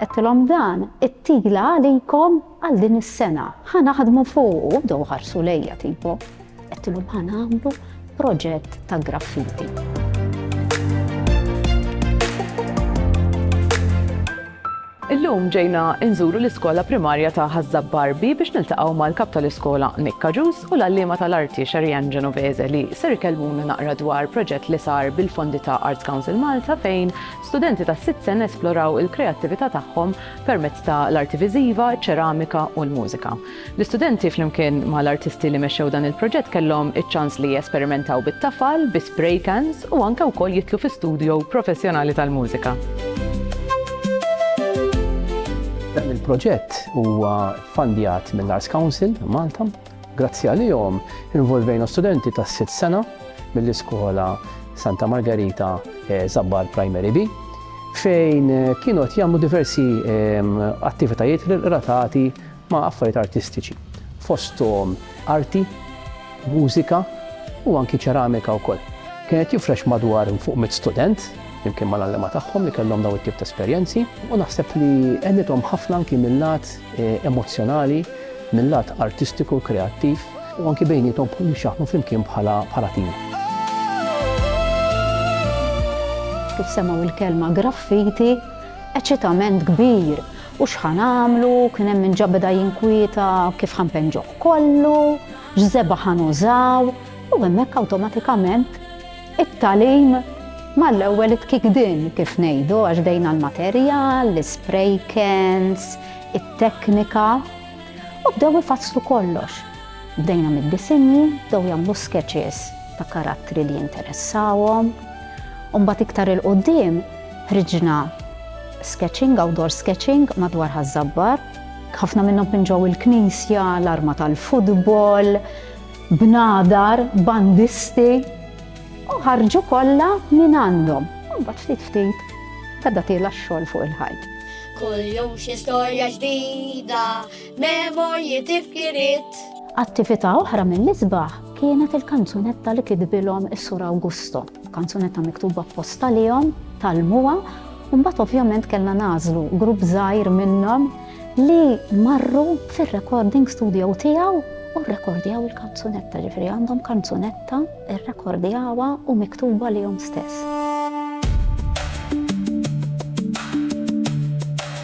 Għettilom dan, it-tigla għalikom għal din is-sena. Ħa naħdmu fuq, do ħarsu lejja tipo. Għettilom ħa nagħmlu proġett ta' graffiti. Illum ġejna nżuru l-iskola primarja ta' Ħaż-Żabb Barbi biex niltaqgħu mal-Kap tal-Iskola Nick Cajuso u l-għalliema tal-arti Sherrianne Genovese li ser ikellmuna naqra dwar proġett li sar bil-fondi ta' Arts Council Malta fejn studenti tas-sitt sena esploraw il-kreattività tagħhom permezz ta' l-arti viżiva, iċ-ċeramika u l-mużika. L-istudenti flimkien ma' l-artisti li mexxew dan il-proġett kellhom iċ-ċans li jesperimentaw bit-tafal, bi spray cans u anke wkoll jidħlu fi studjo professjonali tal-mużika. Dan il-proġett huwa ffandjat mill-Arts Council Malta. Grazzi għalihom involvejna studenti ta' sitt sena mill-iskola Santa Margarita eh, Zabbar Primary B fejn eh, kienu qed jagħmlu diversi ehm, attivitajiet relatati ma' affarijiet artistiċi, fosthom arti, mużika u anki ċeramika wkoll. Kien qed jifrex madwar fuq mitt student, flimkien mal-għalliema tagħhom li kellhom dawn it-tip ta' esperjenzi, u naħseb li għenithom ħafna anki mil-lat emozzjonali, mil-lat artistiku u kreattiv, u anki bejniethom bħal biex jaħdmu flimkien bħala tim. Kif semgħu l-kelma graffiti, eċitament kbir U x'ħa nagħmlu? Kien hemm min ġa beda jinkwieta, kif ħa npenġuh kollu? X'żebgħa ħa nużaw? U hemmhekk awtomatikament it-tagħlim mal-ewwel itkikdin, kif ngħidu, għax bdejna l-materjal, l-ispray cans, it-teknika, u bdew ifasslu kollox. Bdejna mid-disinji, bdew jagħmlu sketches ta' karattri li jinteressawhom, u mbagħad iktar 'il quddiem ħriġna sketching, outdoor sketching madwar Ħaż-Żabbar. Ħafna minnhom minn ġew il-knisja, l-arma tal-futbol, bnadar, bandisti, u ħarġu kollha minn għandhom. Mbagħad ftit ftit beda tiela x-xogħol fuq il-ħajt. Kull jum xi storja ġdida, memorji tifkirit. Attività oħra mill-isbaħ kienet il-kanzunetta li kitbilhom is-Sur Awgusto. F'kanzunetta miktuba apposta għalihom, tgħallmuha u mbagħad ovvjament kellna nagħżlu grupp żgħir minnhom li marru fir-recording studio tiegħu u rrekordjaw il-kanzunetta, ġifieri għandhom kanzunetta rrekordjawha u miktuba għalihom stess.